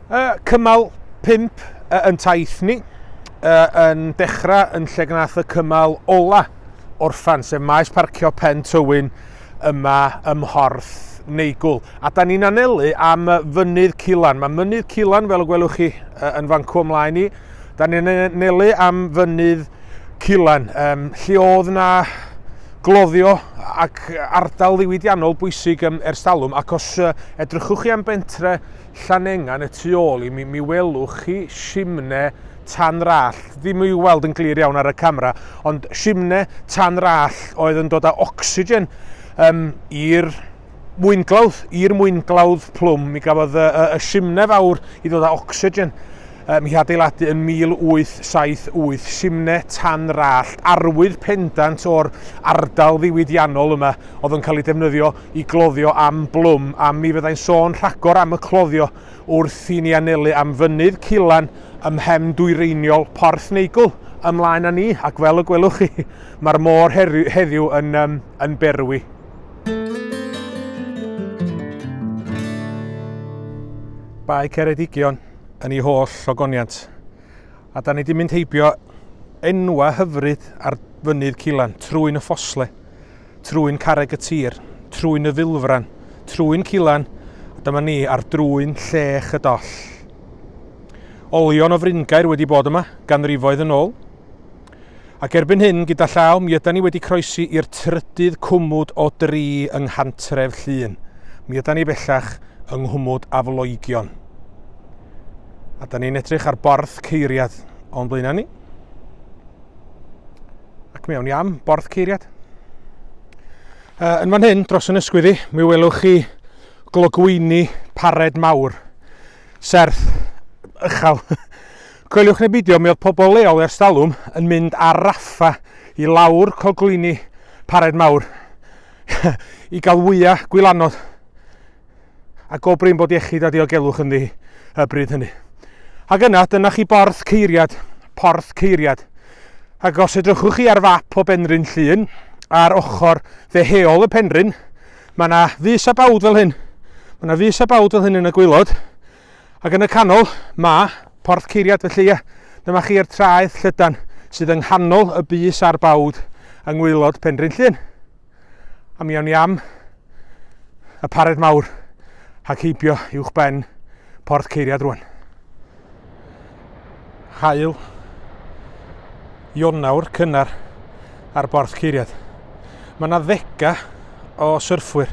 Uh, cymal 5 uh, yn taith ni, uh, yn dechrau yn lle gnaeth y cymal ola orffan, sef maes parcio Pen Tywyn yma ym Mhorth Neigwl. A da ni'n anelu am fynydd Cilan. Mae mynydd Cilan, fel y gwelwch chi yn fan cwm mlaen i, Da ni'n anelu am fynydd Culan, um, lle oedd yna gloddio ac ardal ddiwydiannol bwysig um, ers talwm, ac os uh, edrychwch chi am bentre Llanengan y tu ôl i mi, mi welwch chi simne tan rall, ddim i'w weld yn glir iawn ar y camera, ond simne tan rall oedd yn dod â ocsigen um, i'r mwynglawdd i'r mwynglawdd plwm. Mi gafodd y, y, y simne fawr i ddod â ocsigen. Um, hi adeiladu yn 1878 simne tan rallt arwydd pendant o'r ardal ddiwydiannol yma oedd yn cael ei defnyddio i gloddio am blwm a mi fyddai'n sôn rhagor am y cloddio wrth i ni anelu am fynydd Culan ymhen dwyreiniol Porth Neigwl ymlaen â ni ac fel y gwelwch chi mae'r môr heddiw yn, um, yn berwi. Bae Ceredigion yn ei holl logoniant. A da ni wedi mynd heibio enwa hyfryd ar fynydd Cilan, trwy'n y ffosle, trwy'n carreg y tir, trwy'n y filfran, trwy'n Cilan, a dyma ni ar drwy'n llech y doll. Olion o fringair wedi bod yma, ganrifoedd yn ôl, Ac erbyn hyn, gyda llaw, mi ydan ni wedi croesi i'r trydydd cwmwd o dri yng nghantref Llŷn. Mi ydan ni bellach yng nghwmwd Afloigion. A da ni'n edrych ar borth ceiriad o'n blaenau ni. Ac mi awn ni am borth ceiriad. Uh, yn fan hyn, dros yn ysgwyddi, mi welwch chi glogwyni pared mawr, serth, ychal, Coeliwch neu beidio, mi oedd pobl leol ers talwm yn mynd ar raffa i lawr coglini Pared Mawr i gael wya gwylanod a go brin bod iechyd a diogelwch ynddi y bryd hynny. Ac yna, dyna chi borth ceiriad, porth ceiriad. Ac os edrychwch chi ar fap o Benrhyn Llŷn, ar ochr ddeheol y penrhyn, mae yna fus a bawd fel hyn. Mae yna fus a bawd fel hyn yn y gwaelod, Ac yn y canol, mae Porth Ceiriad felly, ie, dyma chi'r traeth llydan sydd yng nghanol y bys a'r bawd yng ngwaelod Penrhyn Llŷn. A mi awn ni am y pared mawr ac heibio uwch ben Porth Ceiriad rwan. Hael Ionawr cynnar ar Borth Ceiriad. Mae yna ddega o syrffwyr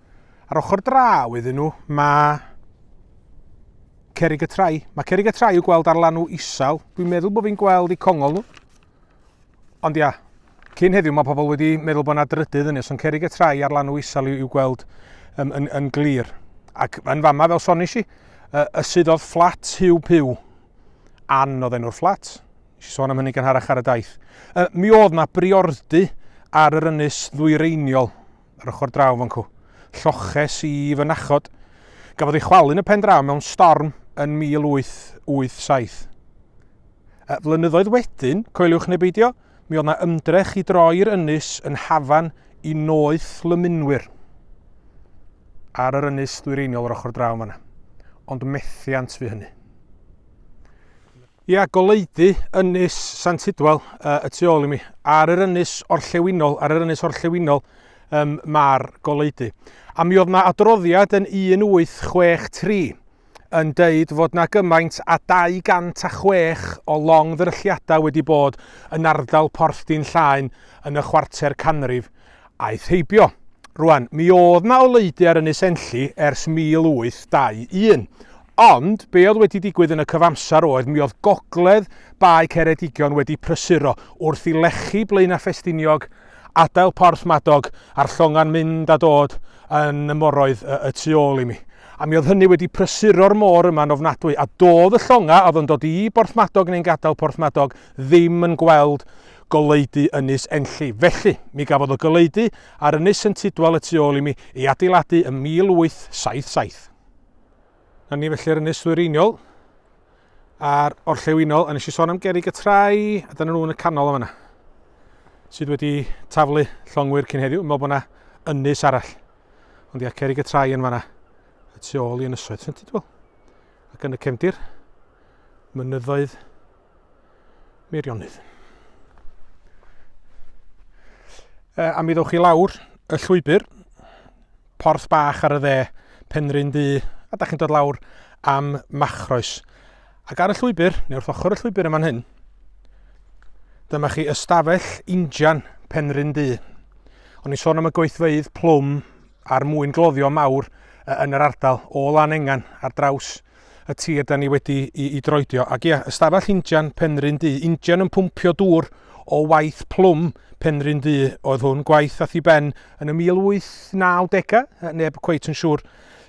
Ar ochr draw iddyn nhw, mae cerig y trai. Mae cerig y trai i'w gweld ar lanw isel. Dwi'n meddwl bod fi'n gweld i congol nhw. Ond ia, cyn heddiw mae pobl wedi meddwl bod yna drydydd yn nes, ond cerig y trai ar lanw isel i'w gweld um, yn, yn glir. Ac yn fama, fel sonis i, uh, y sydd oedd fflat hiw piw. An oedd enw'r fflat. Nes i sôn am hynny gan harach ar y daith. Uh, mi oedd na briordy ar yr ynys ddwyreiniol yr ochr draw fan cw. Lloches i fy nachod. Gafodd ei chwalu yn y pen draw mewn storm yn 1887. Y flynyddoedd wedyn, coeliwch neu beidio, mi oedd na ymdrech i droi'r ynys yn hafan i noeth lymunwyr ar yr ynys ddwyreiniol yr ochr draw fanna. Ond methiant fu hynny. Ia, goleudy ynys Sant Hidwel uh, y tu ôl i mi. Ar yr ynys orllewinol, ar yr ynys orllewinol um, mae'r goleudy. A mi oedd yna adroddiad yn 1863 yn deud fod na gymaint a 206 o long ddrylliadau wedi bod yn ardal Porthdin Llaen yn y chwarter canrif Aeth heibio. Rwan, mi oedd 'na oleudy ar Ynys Enlli ers 1821, ond be oedd wedi digwydd yn y cyfamser oedd mi oedd gogledd Bae Ceredigion wedi prysuro wrth i lechi Blaenau Ffestiniog adael Porth Madog a'r llongan mynd a dod yn y moroedd y, y tu ôl i mi. A mi oedd hynny wedi prysuro'r môr yma'n ofnadwy, a doedd y llonga oedd yn dod i Borth Madog neu'n gadael Porth Madog ddim yn gweld goleudy Ynys Enlli. Felly, mi gafodd y goleudy ar Ynys Sent Idwal y tu ôl i mi ei adeiladu ym 1877. Na ni felly'r ynys ddwyreiniol a'r orllewinol, a nes i sôn am gerig y trai, a dyna nhw yn y canol yma yna, sydd wedi taflu llongwyr cyn heddiw, meddwl bod yna ynys arall. Ond ia, cerig y trai yn fanna, y tu ôl i ynysoedd Sentidwel. Ac yn y cefndir, mynyddoedd Meirionydd. Uh, a mi ddewch chi lawr y llwybr, porth bach ar y dde, penryn du, a da chi'n dod lawr am machroes. Ac ar y llwybr, neu wrth ochr y llwybr yma'n hyn, dyma chi ystafell injan penryn du. O'n i'n sôn am y gweithfeydd plwm a'r mwyn gloddio mawr yn yr ardal o lan engan ar draws y tir da ni wedi i, i droedio. Ac ia, ystafell injan Penrhyn Du, injan yn pwmpio dŵr o waith plwm Penrhyn Du oedd hwn, gwaith ath i ben yn y 1890au, neb cweit yn siŵr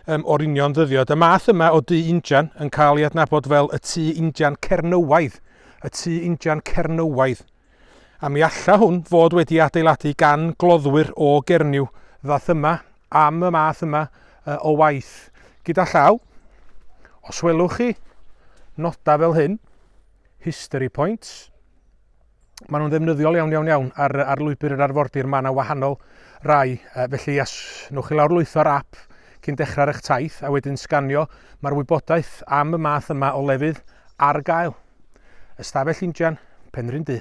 um, o'r union ddyddiad. Y math yma o du injan yn cael ei adnabod fel y tu injan Cernywaidd, y tu injan Cernywaidd. A mi alla hwn fod wedi adeiladu gan gloddwyr o Gernyw ddath yma am y math yma o waith gyda llaw. Os welwch chi nodau fel hyn, history points, maen nhw'n ddefnyddiol iawn iawn iawn ar, ar lwybr yr arfordir, mae yna wahanol rai, felly as newch chi lawr lwytho'r app cyn dechrau ar eich taith a wedyn sganio, mae'r wybodaeth am y math yma o lefydd ar gael. Ystafell Injan, Penrhyn Du.